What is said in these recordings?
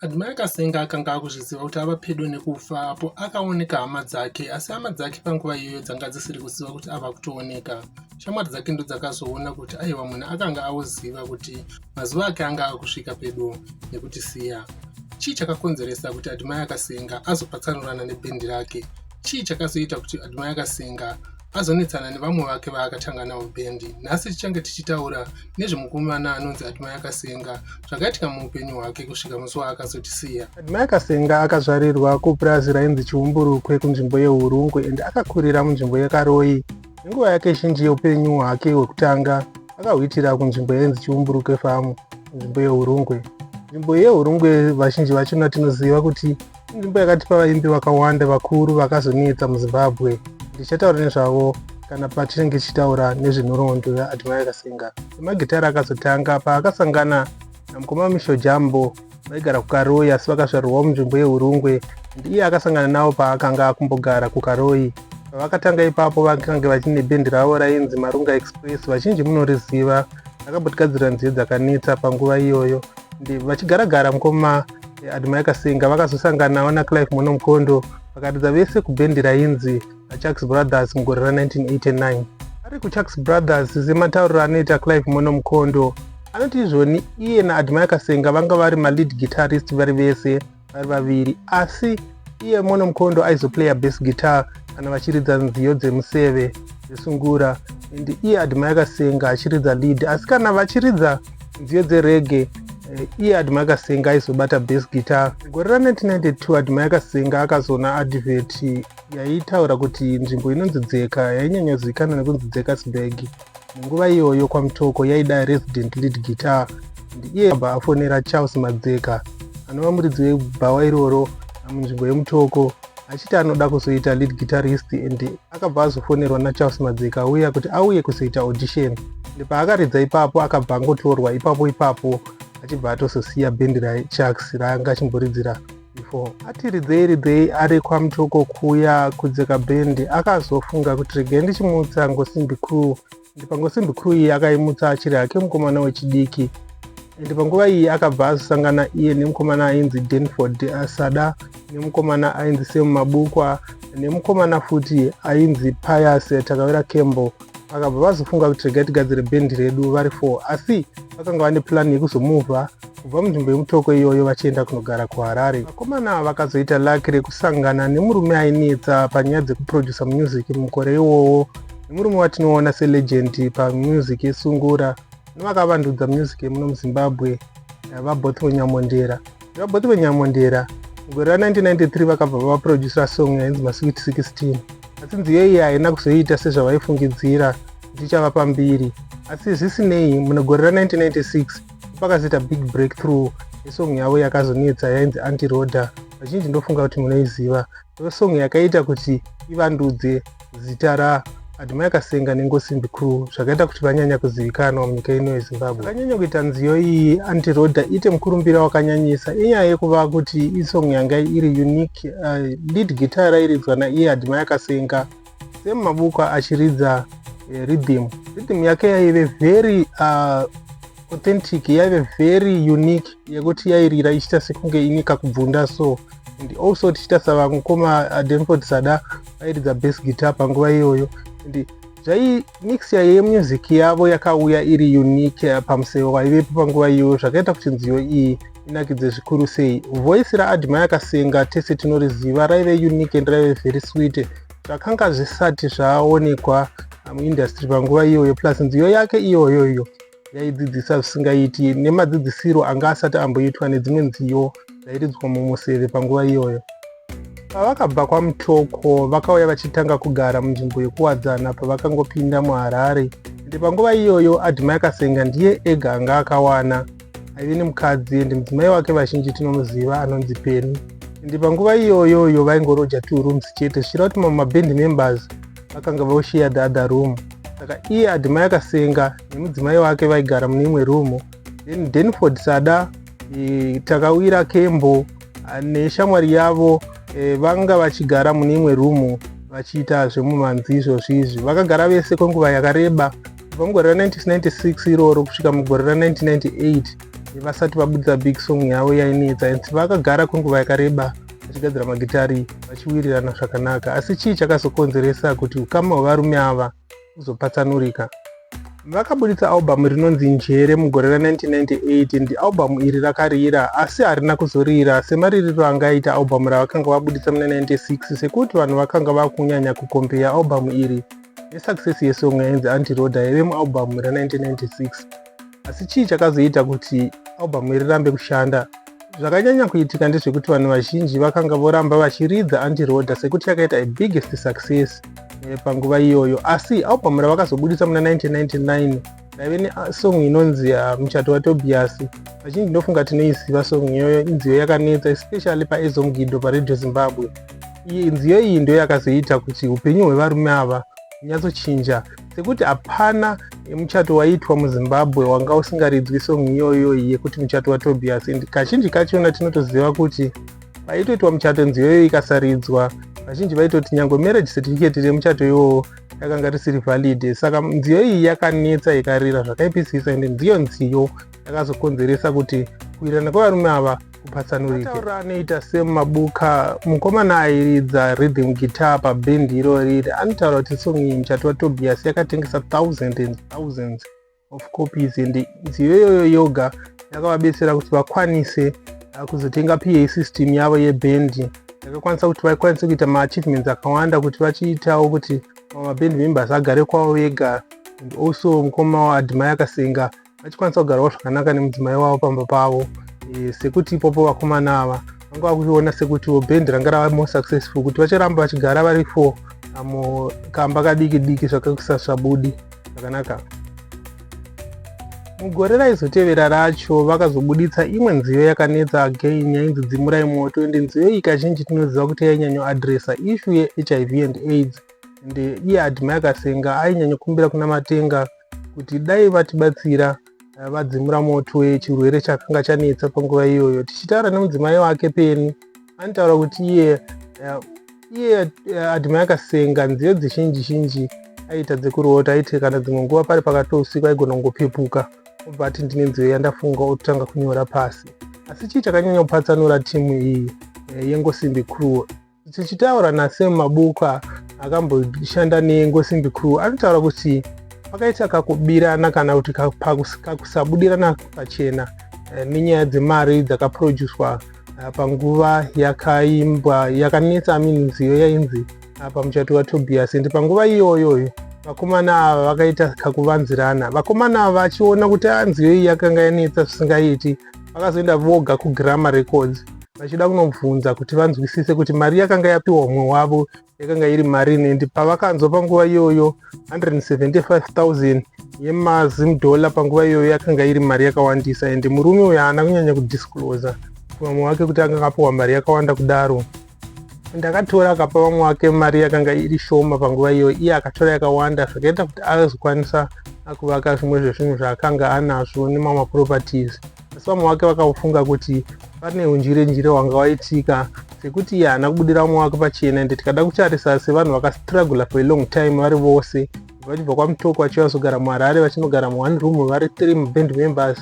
Admai Kasenga akanga akuzviziva kuti ava pedo nekufa apo akaoneka hama dzake asi hama dzake panguva iyoyo dzanga dzisiri kuziva kuti ava kutooneka. Shamwari dzake ndodzakazoona kuti aiwa munhu akanga aoziva kuti mazuva ake anga akusvika pedo nekutisiya. Chii chakakonzeresa kuti Admai Kasenga azopatsanurana nebhendi rake? Chii chakazoita kuti Admai Kasenga azonetsana nevamwe vake vaakatanga navo bendi nhasi tichange tichitaura nezvemukomana anonzi admai akasenga zvakaitika muupenyu hwake kusvika musi waakazotisiya admai akasenga akazvarirwa kupurazi rainzi chiumburukwe kunzvimbo yeurungwe and akakurira munzvimbo yekaroyi nenguva yake zhinji yeupenyu hwake hwekutanga akahwitira kunzvimbo yainzi chiumburukwe famu nzvimbo yeurungwe nzvimbo yehurungwe vazhinji vachona tinoziva kuti inzvimbo yakatipa vaimbi vakawanda vakuru vakazonetsa muzimbabwe ndichataura nezvavo kana pachinenge chichitaura nezvenhoroondo yaadmire kasinga semagitare akazotanga paakasangana namukoma misho jambo vaigara kukaroi asi vakazvarirwawo munzvimbo yeurungwe ndiye akasangana navo paakanga akumbogara kukaroi pavakatanga ipapo vakange vachine bendi ravo rainzi marunga express vachinji munoriziva rakabotigadzirira nziyo dzakanetsa panguva iyoyo ndivachigaragara mukoma Admire Kasinga vakazosanganawo naClive Mono Mukondo vakaridza vese kubhendi rainzi VaChucks Brothers mugore ra 1989. Ari kuChucks Brothers sematauriro anoita Clive Mono Mukondo anoti izvoni iye naAdmire Kasinga vanga vari malead guitarist vari vese vari vaviri asi iye mono mukhondo aizoplaya bass guitar kana vachiridza nziyo dzemuseve dzesungura and iye adma yakasenga achiridza lead asi kana vachiridza nziyo dzerege eh, iye adma yakasenga aizobata bass guitar gore ra 1992 adma yakasenga akazoona advert yaitaura kuti nzvimbo inonzi dzeka yainyanyozivikanwa nekunzi dzekasburg Munguva iyoyo kwaMutoko yaida resident lead guitar ndiye abva afonera Charles Madzeka anova muridzi webhawa iroro munzvimbo yemutoko achiti anoda kuzoita lead guitarist and akabva azofonerwa nacharles madzeka auya kuti auye kuzoita audition paakaridza ipapo akabva angotorwa ipapo ipapo achibva atozosiya bhendi rachucks raanga achimboridzira before ati ridzei ridzei ari kwamutoko kuya kudzeka bendi akazofunga kuti regai ndichimutsa ngosimbi crew ndi pangosimbi crew iyi akaimutsa achiri hake mukomana wechidiki ende panguva iyi akabva azosangana iye nemukomana ainzi denford asada nemukomana ainzi semumabukwa nemukomana futi ainzi pius takavera campbell vakabva vazofunga kuti regai tigadzire bhendi redu vari four asi vakanga vane purani yekuzomuvha kubva munzvimbo yemutoko iyoyo vachienda kunogara kuharare vakomana ava vakazoita laki rekusangana nemurume ainetsa panyaya dzekuprodusa music mukore iwowo nemurume watinoona selegend pamusic yesungura nevakavandudza music yemuno muzimbabwe eh, vaboth venyamondera vaboth venyamondera mugore ra1993 vakabva vaproducera song yainzi masweet 16 asi nziyo iyi haina kuzoiita sezvavaifungidzira kuti ichava pambiri asi zvisinei mune gore ra1996 pakazoita big breakthrough yesong yavo yakazonetsa yainzi antiroda vazhinji ndofunga kuti munoiziva ndosong yakaita kuti ivandudze zita ra Admire Kasenga neNgosimbi Crew zvakaita kuti vanyanya kuzivikanwa munyika ino yeZimbabwe. Akanyanya kuita nziyo iyi Anti Roda ite mukurumbira wakanyanyisa inyaya yekuva kuti isong yanga iri unique uh, lead guitar rairidzwa naiye Admire Kasenga same mabook achiridza uh, rhythm rhythm yake yaive very uh, authentic yaive very unique yekuti yairira ichiita sekunge ini kakubvunda so and also tichiita savamukoma uh, denford sada vairidza base guitar panguva iyoyo and zvai mixture yemusic yavo yakauya iri unique uh, pamusero waivepo panguva iyoyo zvakaita kuti nziyo iyi inakidze zvikuru sei voice raadma yakasenga tese tinoriziva raive unique and raive very sweet zvakanga zvisati zvaonekwa muindustry panguva iyoyo plus nziyo yake iyoyo iyo yaidzidzisa zvisingaiti nemadzidzisiro anga asati amboitwa nedzimwe nziyo dzairidzwa mumuseve panguva iyoyo pavakabva kwamutoko vakauya vachitanga kugara munzvimbo yekuwadzana pavakangopinda muharare ende panguva iyoyo adma yakasenga ndiye ega anga akawana aive nemukadzi and mudzimai wake vazhinji tinomuziva anonzi peni ende panguva iyoyoyo vaingoroja two rooms chete zvichira kuti mamwe maband members vakanga voshiya the other room saka iye adimai akasenga nemudzimai wake vaigara mune imwe room then denford sada e, takawira kembo neshamwari yavo e, vanga vachigara mune imwe room vachiita zvemumanzi izvozvi izvi vakagara vese kwenguva yakareba kubva mugore ra 1996 iroro kusvika mugore ra 1998 vasati vabudisa big song yavo yainetsa and vakagara kwenguva yakareba vachigadzira magitari vachiwirirana zvakanaka asi chii chakazokonzeresa kuti ukama hwevarume ava uzopatsanurika vakaburitsa albhamu rinonzi njere mugore ra 1998 ndi albhamu iri rakarira asi harina kuzorira semaririro anga aita albhamu ravakanga vaburitsa muna 96 sekuti vanhu vakanga vakunyanya kukombeya albhamu iri nesuccess yesong yainzi antiroda yaive mualbum ra 1996 asi chii chakazoita kuti album iri rambe kushanda zvakanyanya kuitika ndezvekuti vanhu vazhinji vakanga voramba vachiridza antiroda sekuti yakaita ibiggest success eh, panguva iyoyo asi album ravakazobudisa muna 1999 ndaive nesong ah, inonzi ah, muchato watobias vachinji ndinofunga tinoiziva song iyoyo inziyo yakanetsa especially paezomugido paradio zimbabwe iyi nziyo iyi ndiyo yakazoita kuti upenyu hwevarume ava hunyatsochinja sekuti hapana muchato waiitwa muzimbabwe wanga usingaridzwi song iyoyo yekuti muchato watobias and kazhinji kachona tinotoziva kuti paitoitwa muchato nziyo iyoyo ikasaridzwa vazhinji vaitoti nyange marriage certificate remuchato iwowo rakanga risiri valid saka nziyo iyi yakanetsa ikarira zvakaipisisa ende ndiyo nziyo yakazokonzeresa kuti kuirana kwevarume ava kupatsanurikataura anoita semabuka mukomana airidza rhythm guitar pabhendi irori anotaura kuti song iyi muchati watobias yakatengesa thousands and thousands of copies and nziyo iyoyo yoga yakavabetsera kuti vakwanise uh, kuzotenga pa system yavo yebhendi yakakwanisa kuti vakwanise kuita maachievements akawanda kuti vachiitawo kuti mabhendi members agare kwavo vega and also mukoma wavo adhimai akasenga vachikwanisa kugarawo zvakanaka nemudzimai wavo pamba pavo e, sekuti ipopo vakomana ava vanga vakuiona sekutiwo bhendi ranga rava more successful kuti vacharamba vachigara vari four amo kamba kadiki diki zvakakusasvabudi zvakanaka mugore raizotevera racho vakazobuditsa imwe nziyo yakanetsa again yainzi dzimurai moto ende nziyo iyi kazhinji tinoziva kuti yainyanyo adresa ishu yehiv and aids ende iye adhima yakasenga ainyanyokumbira kuna matenga kuti dai vatibatsira eh, vadzimura moto wechirwere chakanga chanetsa panguva iyoyo tichitaura nemudzimai wake peni anotaura kuti iye eh, iye eh, adhima yakasenga nziyo dzizhinji zhinji aiita dzekuroota aiti kana dzimwe nguva pari pakati usiku aigona kungopepuka obva ati ndine nziyo yandafunga ototanga kunyora pasi asi chii chakanyanya kupatsanura timu iyi eh, yengosimbi crew tichitaura nasem mabuka akamboshanda nengosimbi crew anotaura kuti pakaita kakubirana kana kuti kakusabudirana pachena eh, nenyaya dzemari dzakaproducwa ka ah, panguva yakaimbwa yakanetsa amini nziyo yainzi ah, pamuchato watobiyasi ndi panguva iyoyoyo vakomana ava vakaita kakuvanzirana vakomana ava vachiona kuti ah, nziyo iyi yakanga yanetsa zvisingaiti vakazoenda voga kugrammar records vachida kunobvunza kuti vanzwisise kuti mari yakanga yapiwa umwe wavo yakanga iri mari nendi pavakanzwa panguva iyoyo 175000 yemazim dollar panguva iyoyo yakanga iri mari yakawandisa and murume uyo haana kunyanya kudisclosa vamwe wake kuti anga akapiwa mari yakawanda kudaro ndakatora akapa vamwe wake mari yakanga iri shoma panguva iyoyo iye akatora yakawanda zvakaita kuti azokwanisa akuvaka zvimwe zvezvinhu zvaakanga anazvo nemamwe properties asi vamwe vake vakaufunga kuti pane unjire njire wanga waitika sekuti iye haana kubudira umwe wake pachena ende tikada kutarisa sevanhu vakastrugula for a long time vari vose vachibva kwamutoko vachiva zogara muharare vachinogara muone room vari three muband members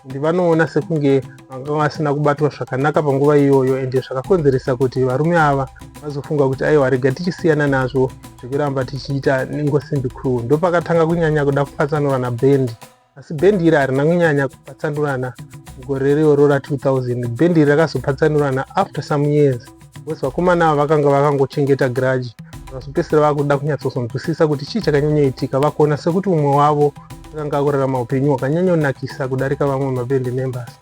ndi vanoona sekunge vanga vasina kubatwa zvakanaka panguva iyoyo ende zvakakonzeresa kuti varume ava vazofunga kuti aiwa rega tichisiyana nazvo zvekuramba tichiita ingosimbi crew ndopakatanga kunyanya kuda kupatsanura naband asi bhendi iri harina kunyanya kupatsanurana mugore iroro ra 2000 bhendi iri rakazopatsanurana after some years bcause vakomana ava vakanga vakangochengeta giraji vakazopedzisira vakuda kunyatsozonzwisisa kuti chii chakanyanyoitika vakuona sekuti umwe wavo akanga akurarama upenyu hwakanyanyonakisa kudarika vamwe mabhendi members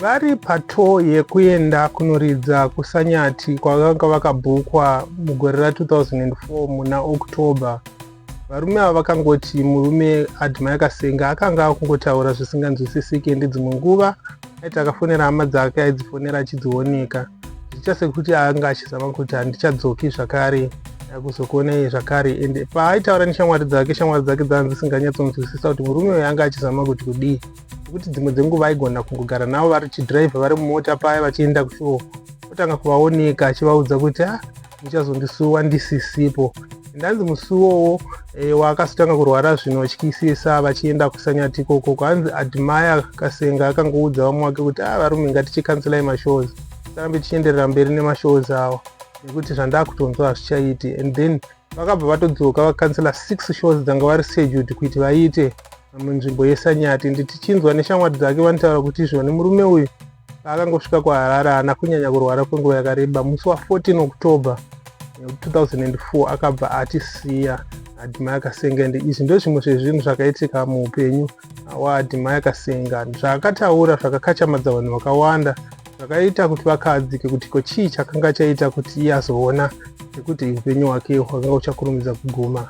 vari pato yekuenda kunoridza kusanyati kwavanga vakabhukwa mugore ra 2004 muna october varume ava vakangoti murume admire kasenga akanga akungotaura zvisinganzwisisike ndidzimwe nguva aiti akafonera hama dzake aidzifonera achidzioneka zvicha sekuti anga achizama kuti handichadzoki zvakare akuzokuonei zvakare ende paaitaura neshamwari dzake shamwari dzake dzanga dzisinganyatsonzwisisa kuti murume uyo anga achizama kuti kudii nekuti dzimwe dzenguva aigona kungogara navo vari chidhiraivha vari mumota paya vachienda kushoo otanga kuvaoneka achivaudza kuti a ah, muchazondisuwa ndisisipo ndanzi musiwowo e, eh, waakazotanga kurwara zvino vachityisisa vachienda kusanyati ikoko kwanzi admire kasenga akangoudza vamwe wake kuti a ah, varume ngatichikanselai mashows tarambe tichienderera mberi nemashows awa nekuti zvandakutonzwa hazvichaiti and then vakabva vatodzoka vakansela six shows dzanga vari scheduled kuti vaite munzvimbo yesanyati nditichinzwa neshamwari dzake vanotaura kuti izvoni murume uyu paakangosvika kuharare haana kunyanya kurwara kwenguva yakareba musi wa14 october 2004 akabva atisiya adimaya kasenga ende izvi ndozvimwe zvezvinhu zvakaitika muupenyu waadimaya kasenga zvaakataura zvakakachamadza vanhu vakawanda zvakaita kuti vakahadzike kuti ko chii chakanga chaita kuti iye azoona nekuti upenyu hwake hwakanga uchakurumidza kuguma